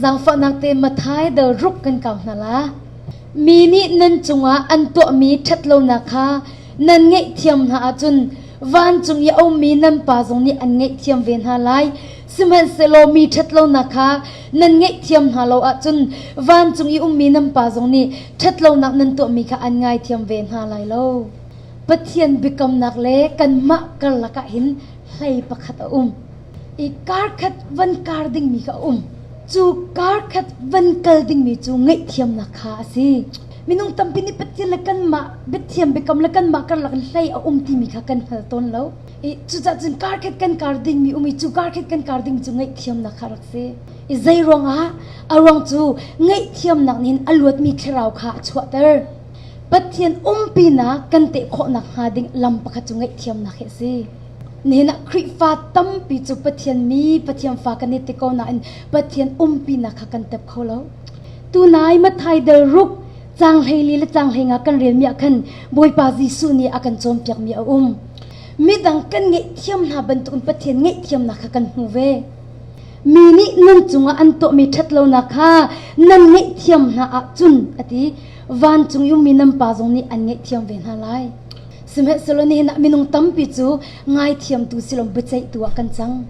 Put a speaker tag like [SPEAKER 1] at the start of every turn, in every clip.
[SPEAKER 1] Zaangfahnak te Matthai dal ruk kan kau hna la. Mi nih nan cungah an tuahmi ṭhat lonak kha nan ngaihthiam hna ahcun vancung i a ummi nan Pa zong nih an ngaihthiam ve hna lai. Sihmanhsehlaw mi ṭhat lonak kha nan ngaihthiam hna lo ahcun vancung i ummi nan Pa zong nih ṭhat lonak nan tuahmi kha an ngaithiam ve hna lai lo. Pathian biakamnak le kanmah karlak ah hin hlei pakhat a um. I karkhat van kar dingmi kha a um. Cu karkhat van kal dingmi cu ngaihthiamnak kha a si. Minung tampi nih Pathian le kanmah biathiam biakam le kanmah karlak in hlei a um timi kha kan hngal tawn lo. I cucaah cun karkhat kan kar dingmi um i cu karkhat kan kar dingmi cu ngaihthiamnak kha rak si. I zei ruangah? A ruang cu ngaihthiamnak nih hin a luatmi thlarau kha a chuahter. Pathian umpinak kan teh khawh nakhnga ding lam pakhat cu ngaihthiamnak hi a si. Nihin ah Khrihfa tampi cu Pathian mi Pathian fa kan i ti ko nain Pathian umpinak kha kan tep kho lo. Tunai Mathai del ruk caang hleili le caang hleinga kan relmi ah khan Bawipa Jesuh nih a kan cawnpiakmi a um. Midang kan ngaihthiam hna bantukin Pathian ngaihthiamnak kha kan hmu ve. Mi nih nan cungah an tuahmi ṭhatlonak kha nan ngaihthiam hna ahcun a ti. Vancung i ummi nan Pa zong nih an ngaihthiam ve hna lai. Sihmanhsehlaw nihin ah minung tampi cu ngaithiamtu silom biaceihtu ah kan cang.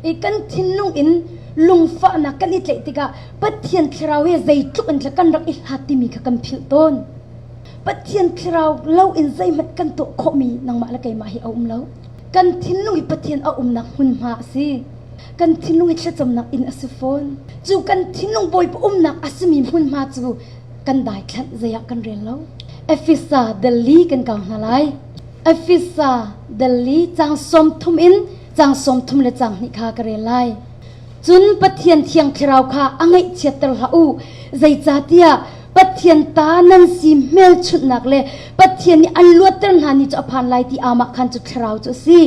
[SPEAKER 1] I kan thinlung in lungfahnak kan i tleih tikah Pathian thlarau he zeitluk in kan rak i hlat timi kha kan philh tawn. Pathian thlarau lo in zeihmanh kan tuah khawhmi nangmah le keimah hi a um lo. Kan thinlung hi Pathian a umnak hmunhma a si. Kan thinlung hi thlacamnak inn a si fawn. Cu kan thinlung Bawipa umnak a simi hmunhma cu kan daithlanh zei ah kan rel lo. Efesa dali kan kau hna lai. Efesa dali cang som thum in cang som thum le cang hnih kha ka rel lai. Cun Pathian thiang thlarau kha a ngaihchiatter hlah u. Zeicahtiah Pathian ta nan si hmelchunhnak le Pathian nih an luatter hna ni cu a phan lai ti amah khan cu thlarau cu a si.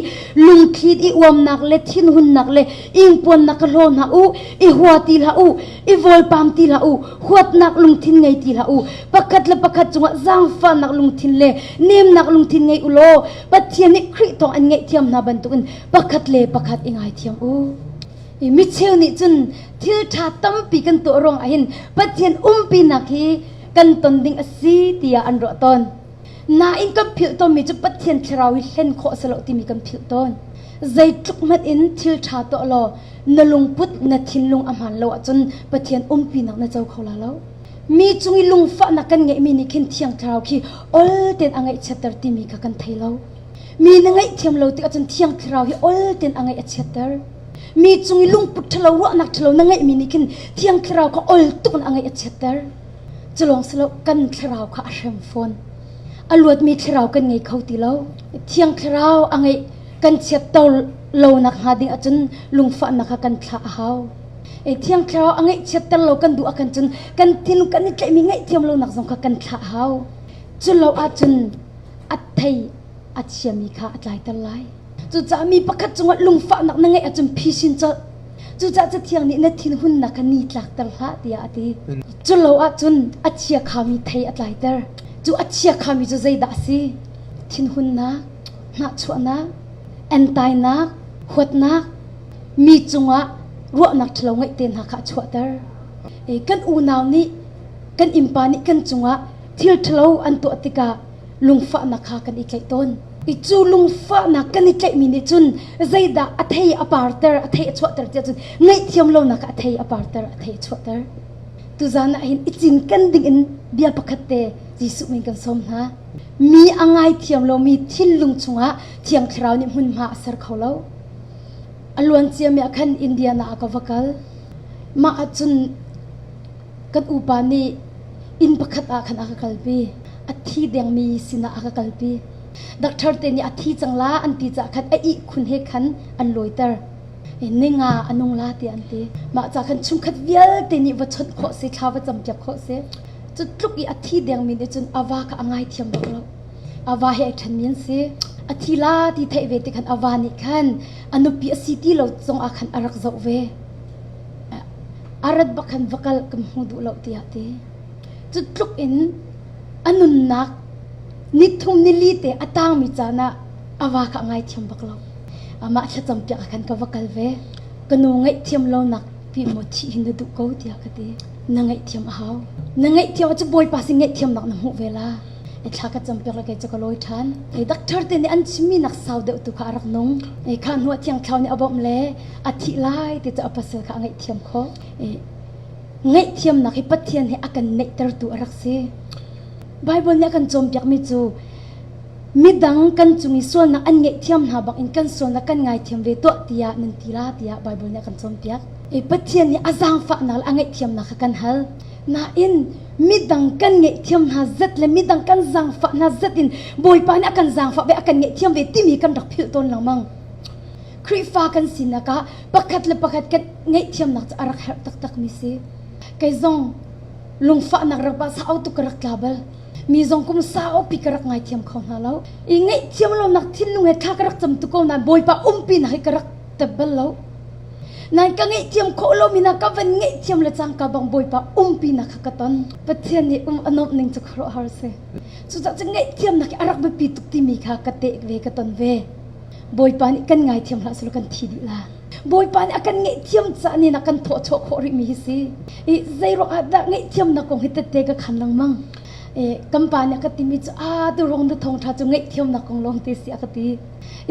[SPEAKER 1] Lungthlit i uamnak le thinhunnak le ingpuannak ka hlaw hna u, i hua ti hlah u. i volpam ti hlah u huatnak lungthin ngei ti hlah u pakhat le pakhat cungah zaangfahnak lungthin le nemnak lungthin ngei u law Pathian nih Khrih thawng an ngaihthiam hna bantukin pakhat le pakhat i ngaithiam u i micheu nih cun thil ṭha tampi kan tuah ruang ahhin Pathian umpinak hi kan ton ding a si tiah an ruah tawn Nain kan philh tawnmi cu Pathian thlarau hi hlen khawh a si lo timi kan philh tawn. Zeitluk hmanh in thil ṭha tuah law na lungput na thinlung a hmaan lo ahcun Pathian umpinak na co kho la lo. Mi cung i lungfahnak kan ngeihmi nih khin Thiang Thlarau khi ol tein a ngaihchiatter timi kha kan thei lo. Mi na ngaihthiam lo tikah cun Thiang Thlarau hi ol tein a ngaih a chiatter. Mi cung i lungput ṭhalo, ruahnak ṭhalo na ngeihmi nih khin Thiang Thlarau kha ol tuk in a ngaih a chiatter. Culawng si lo kan thlarau kha a hrem fawn. A luatmi thlarau kan ngei kho ti lo. Thiang thlarau a ngeih kan chiatter lonak hnga ding ahcun lungfahnak kha kan thlah a hau. E, thiang thlarau a ngeih chiatter lo kan duh ahcun cun kan thin kan i tlaihmi ngaihthiam lonak zong kha kan thlah a hau. Culo ahcun a thei a chiami kha a tlaiter lai. Cucaah mi pakhat cungah lungfahnak na ngeih ahcun phi sin cu Cucaah Cathiang nih na thinhunnak kha ni tlakter hlah tiah a ti. Cu lo ahcun a chia khami thei a tlaiter. Cu a chia khami cu zeidah a si? Thinhunnak, hnahchuahnak, entainak, huatnak, mi cungah ruahnak ṭhalo ngeih te hna kha a chuahter. Kan unau nih kan innpa nih kan cungah thil ṭhalo an tuah tikah lungfahnak kha kan i tlaih tawn. I cu lungfahnak kan i tlaihmi nih cun zeidah a thei a parter, a thei a chuahter tiah cun ngaihthiam lonak a thei a parter, a thei a chuahter. Tuzan ah hin i cinken dingin bia pakhatte Jesuh min kan sawm hna. Mi a ngaithiam lomi thinlung chungah Thiang Thlarau nih hmunhma a ser kho lo. A luancia mi ah khan Indiana ah ka va kal. Mah ah cun Kan upa nih inn pakhat ah khan a ka kalpi. A thi dengmi sinah a ka kalpi. Doctor te nih a thi cang la an ti cah khan a ihkhun he khan an lawiter. Ninga a nung la tiah an ti. Mah ca khan chungkhat vialte nih va chawnh khawh si, thla va campiak khawh si. Cu tluk i a thi dengmi nih cun a va kha a ngaithiam bak lo. A va he ai ṭhenmi an si. A thi la ti theih ve tikhan a va nih khan a nupi a si ti lo zongah khan a rak zoh ve. a rat bak khan va kal kan hmu duh lo tiah a ti. Cu tluk in a nunnak nithum nili te a tangmi caan ah a va kha ngaithiam bak lo. Amah thlacam piak ah khan ka va kal ve. Ka nu ngaihthiam lonak pi maw thih hi na duh ko tiah ka ti. Na ngaihthiam a hau. Na ngaihthiam ah cu Bawipa sin ngaihthiamnak na hmuh ve la. i thla ka cam piak le kei cu ka lawi ṭhan ei doctor te nih an chimmi nak sau deuh tu kha a rak nung ei kha hnu ah thiang thlau nih a bawmh le a thih lai ti cu a pasal kha a ngaih thiam khawh i ngaih thiamnak hi Pathian he a kan neihtertu a rak si Bible nih a kan cawnpiakmi cu midang kan cung i sualnak an ngeih thiam hna bangin kan sualnak kan ngaithiam ve tuah tiah nan ti la tiah Bible nih a kan cawnpiak i Pathian nih a zaangfahnak le a ngaihthiamnak kha kan hal Nain midang kan ngeihthiam hna zat le midang kan zaangfah hna zat in Bawipa nih a kan zaangfah ve, a kan ngeihthiam ve timi kan rak philh tawn lengmang. Khrihfa kan sinak ah pakhat le pakhat kan ngeihthiamnak cu a rak herh taktakmi si. Kei zong lungfahnak rapa sau tuk ka rak tla bal. Mi zong kum saupi ka rak ngaithiam kho hna lo. I ngeihthiam lonak thinlung he thla ka rak cam tuk ko nain Bawipa umpinak hi ka rak tep bal lo. Nan ka ngaihthiam khawh lomi na ka van ngaihthiam le cangka bang Bawipa umpinak kha ka ton. Pathian nih um a nuamh ning cu khuaruahhar a si. Cucaah cu ngaihthiamnak hi a rak biapi tuk timi kha ka teh ve, ka ton ve. Bawipa nih kan ngaithiam hlah selaw kan thi dih la. Bawipa nih a kan ngaihthiam caah nin a kan thawhchuah khawh rihmi hi si. I zei ruangah dah ngaihthiamnak kong hi tette ka khan lengmang. I kan pa nih a ka timi cu aa ti rong na thawng ṭha cu ngaihthiamnak kong lawng te si a ka ti.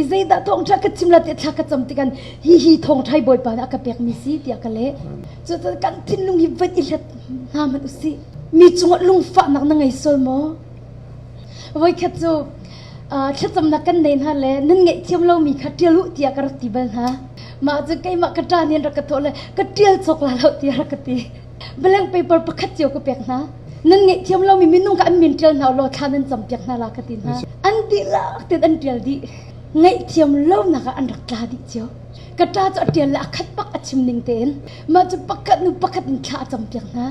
[SPEAKER 1] i zeidah thawngṭha ka chim la tiah thla ka cam tikhan hihi thawngṭhai Bawipa nih a ka pekmi si tiah ka leh. Cucaah kan thinlung hi vat i hlet hna hmanh usih. Mi cungah lungfahnak na ngei sual maw? Voikhat cu thlacamnak kan nei hna le nan ngaihthiam lomi kha ṭial u tiah ka rak ti bal hna. Mah cu keimah ka ṭa nih an rak ka thawh le ka ṭial cawk la lo tiah rak ka ti. Blank paper pakhat cio ka pek hna. Nan ngaihthiam lomi minung kha an min ṭial hna ulaw thla nan cam piak hna la ka ti hna. An dihlak tein an ṭial dih. Ngaihthiam lonak ah an rak tla dih cio. Ka ṭa cu a ṭial le a khat bak a chim ning tein mah cu pakhat hnu pakhat in thla a cam piak hna.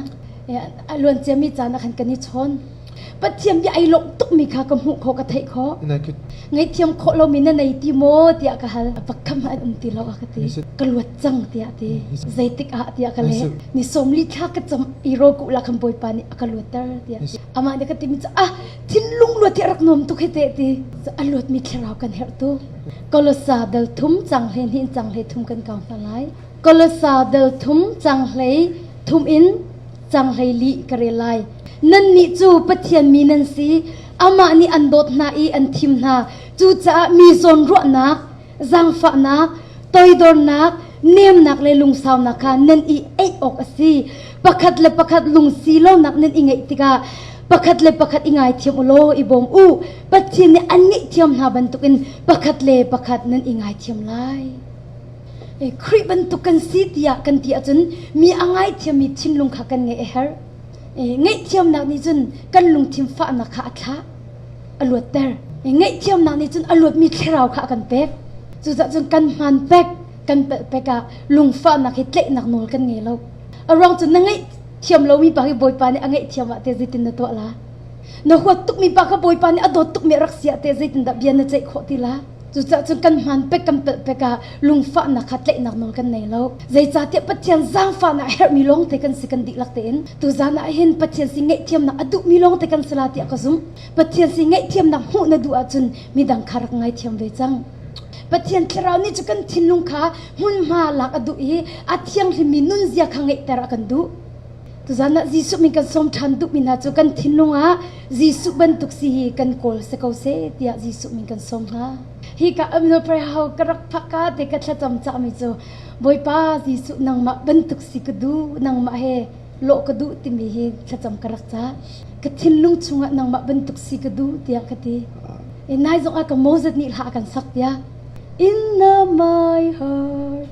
[SPEAKER 1] A luanciami caan ah khan kan i chawn. Pathian bia ai lawmh tukmi kha ka hmuh khawh ka theih khawh. Ngaihthiam khawh lomi na nei ti maw tiah ka hal. Pakhat hmanh an um ti lo a ka ti. Ka luat cang tiah a ti. Zeitik ah tiah ka leh. Ni sawmli thla ka cam i rawkuh lah khan Bawipa nih a ka luatter tiah a ti. Amah nih ka timi cu ah thinlung luat hi rak nuam tuk hi teh ti. A luatmi thlarau kan herh tu. Kolosa dal thum cang hlei hnih cang hlei thum kan kau hna lai. Kolosa dal thum cang hlei thum in Cang hlei lih ka rel lai. Nannih cu Pathian mi nan si. Amah nih an dawt hna i an thim hna. Cucaah mi zawnruahnak, zaangfahnak, toidornak, nemnak le lungsaunak kha nan i eih awk a si. Pakhat le pakhat lungsi lonak nan i ngeih tikah pakhat le pakhat i ngaithiam u law i bawm u. Pathian nih an ngaihthiam hna bantukin pakhat le pakhat nan i ngaithiam lai. Khrih bantuk kan si tiah kan ti ahcun mi a ngaithiammi thinlung kha kan ngeih a herh. Ngaihthiamnak nih cun kan lungthin fahnak kha a thlah, a luatter. Ngaihthiamnak nih cun a luatmi thlarau kha a kan pek. Cucaah cun kan hmaan pek, kan palh pek ah lungfahnak hi tlaihnak nawl kan ngei lo. A ruang cu na ngaihthiam lomi pa hi Bawipa nih a ngaihthiam ah teh zeitin na tuah la? Na huat tukmi pa kha Bawipa nih a dawt tukmi a rak si ah teh zeitindah bia na ceih khawh ti la? Cucaah cun kan hmaan pek kan palh pek ah lungfahnak kha tlaihnak nawl kan nei lo. Zeicahtiah Pathian zaangfahnak a herhmi lawng te kan si kan dihlak tein tuzan ah hin Pathian sin ngaihthiamnak a duhmi lawng te kan si la tiah ka zumh. Pathian sin ngaihthiamnak hmuh na duh ahcun midang kha rak ngaithiam ve cang. Pathian thlarau nih cu kan thinlung kha hmunhma lak a duh i a thianghlimmi nunzia kha ngeihter a kan duh. Tuzan ah Jesuh min kan sawm ṭhan duhmi hna cu kan thinlung ah Jesuh bantuk si hi kan kawl si ko seh tiah Jesuh min kan sawm hna. Hi ka Communal Prayer Hall ka rak phakka te ka thlacam cangmi cu Bawipa Jesuh nangmah bantuk si ka duh nangmah he lawh ka duh timi hi thlacam ka rak cah. Ka thinlung chungah nangmah bantuk si ka duh tiah ka ti. In nai zong ah ka Moses nih hla a kan sak piak. In the my heart,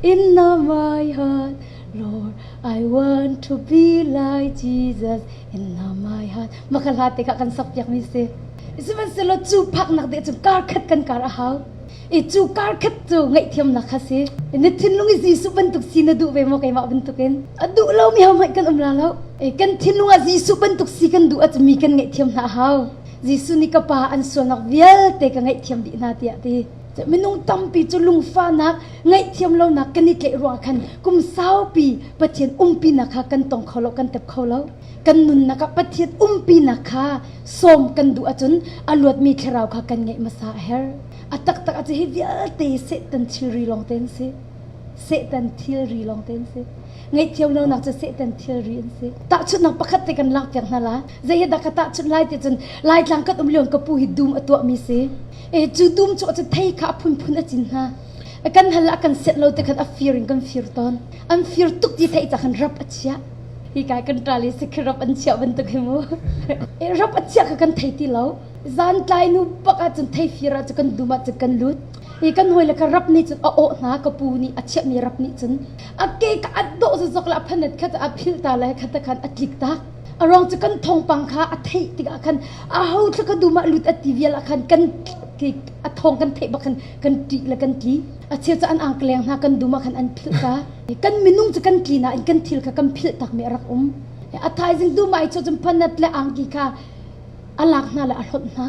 [SPEAKER 1] in the my heart, Lord, I want to be like Jesus in now my heart. Mah ka hlat tikah kan sakpiakmi si. Sihmanhsehlaw cu phaknak de cu kar khat kan kar a hau. I cu kar khat cu ngaihthiamnak kha si. Na thinlung i Jesuh bantuk si na duh ve maw keimah bantukin? A duh lomi ho hmanh kan um la lo. Eh, kan thinlung ah Jesuh bantuk si kan duh ahcun mi kan ngaihthiam hna a hau. Jesuh nih ka pa an sualnak vialte ka ngaihthiam dih hna tiah a ti. minung tampi cu lungfanak ngaihthiam lonak kan i tleih ruang khan kum saupi Pathian umpinak kha kan tong kho lo, kan tep kho lo. Kan nunnak ah Pathian umpinak kha sawm kan duh ahcun a luatmi thlarau kha kan ngeih hmasa a herh. A taktak a si hi vialte Satan thilri lawngte an si. Satan thilri lawngte an si. Ngaihthiam lonak cu Satan thilri an si. Tahchunhnak pakhat te kan langhpiak hna la. Zei he dah ka tahchunh lai ti cun Laitlang kan um lio ka pu hi dum a tuahmi si. cu dum cu a cathei kha a phunphun a cin hna kan hal ah kan set lo te khan a fir in kan fir tawn an fir tuk ti thei cah khan rap a chia hi kai kan tra le sikhi rap an chia bantuk hi mu rap a chia kha kan thei ti lo zan tlai nu pak ah cun thei fir ah kan dum ah kan lut i kan hoi le ka rap ni cun a o hna ka pu ni a chiah mi rap ni cun a ke ka at do zozok la phanat kha a phil ta lai kha ta khan a tlik tak A ruang cu kan thawngpang kha a theih tikah khan aho thla ka dum ah lut a ti vial ah khan kan a thawng kan theih bak khan kan ṭih le kan tli. A chia cu an angkleng hna kan dum ah khan an philh ta. Kan minung cu kan tlin ah in kan thil kha kan philh takmi a rak um. A thaizing dum ai cho cun panat le angki kha a lak hna le a hlawt hna.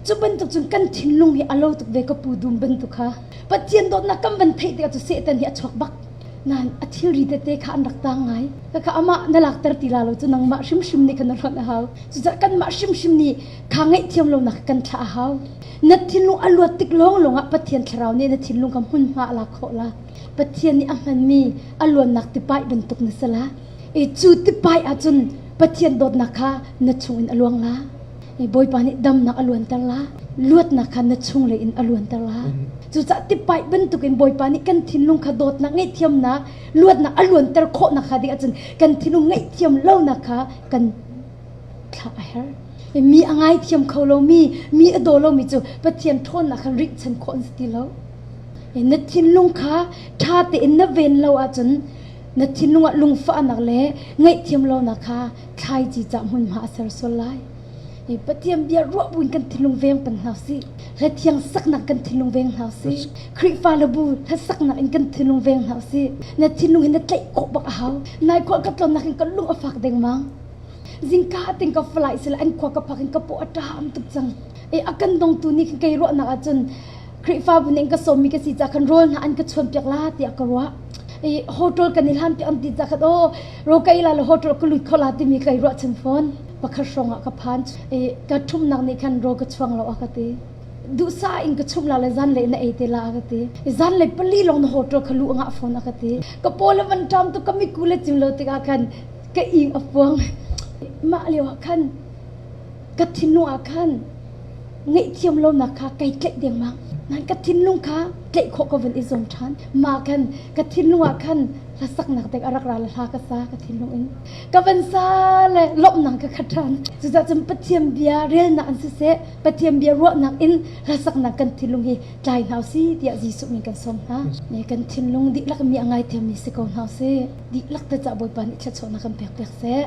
[SPEAKER 1] Cu bantuk cun kan thinlung hi a lo tuk ve ka pu dum bantuk kha. Pathian dawtnak kan van theih tikah cu Satan hi a chuak bak. Nain a thilri tete kha an rak tang ngai. Kakha amah na lakter ti la lo cu nangmah hrimhrim nih kan hlonh a hau. Cucaah kanmah hrimhrim nih kha ngaihthiam lonak kan thlah a hau. Na thinlung a luat tik lawnglawng ah Pathian thlarau nih na thinlung kha hmunhma a lak khawh la. Pathian nih a hmanmi a luannak tipaih bantuk na si la. I cu tipai ahcun Pathian dawtnak kha na chungin a luang la. I Bawipa nih damnak a luanter la. Luatnak kha na chunglei in a luanter la. Cucaah tipai bantukin Bawipa nih kan thinlung kha dawtnak, ngaihthiamnak, luatnak a luanter khawhnak hnga ding ahcun kan thinlung ngaihthiam lonak kha kan thlah a herh. I mi a ngaithiam kho lomi, mi a daw lomi cu Pathian ṭhawnnak kha rihchan khawh an si ti lo. I na thinlung kha ṭha tein na ven lo ahcun Na thinlung ah lungfahnak le ngaihthiam lonak kha thlaici cah hmunhma a ser sual lai. I Pathian bia ruah buin kan thinlung veng pan hna sih. Hla thiang saknak kan thinlung veng hna sih. Khrihfa le bu hla saknak in kan thinlung veng hna sih. Na thinlung hi na tlaih khawh bak a hau. Nai khua ka tlonnak in ka lung a fak dengmang. Zingka ating ka falai sila an khua ka phak in ka paw a ṭaam tuk cang. I a kan dongtu nih kei ruahnak ahcun Khrihfabu ning ka sawmmi ka si ca khan rawl hna an ka chuanpiak la tiah ka ruah. I hotel kan i hlampiak an ti ca khat o ro ka ila le hotel ka lut kho la timi ka i ruahchan fawn. Pakhat hrawng ah ka phan i ka ṭhumnak nih khan ro ka chuang lo a ka ti. Duhsa in ka chum la le zanlei na ei te la a ka ti. I zanlei pali lawng na hotel ka luh ngah fawn a ka ti. Ka paw le van ṭam tu ka miku le cim lo tikah khan ka ing a puang. Mah lio ah khan Ka thinlung ah khan ngaihthiam lonak kha kai tlaih dengmang. Nain ka thinlung kha tlaih khawh ka vun i zum ṭhan. Mah khan ka thinlung ah khan hlasaknak ding a rak ra le hla ka sa ka thinlung in. Ka van sa le lawmhnak ka khat ṭhan. Cucaah cun Pathian bia relnak in siseh, Pathian bia ruahnak in hlasaknak kan thinlung hi tlai hna u si tiah Jesuh min kan sawm hna. Ne kan thinlung dihlak mi a ngaithiammi si ko hna u si. Dihlak te cah Bawipa nih thluachuahnak kan pekpiak seh.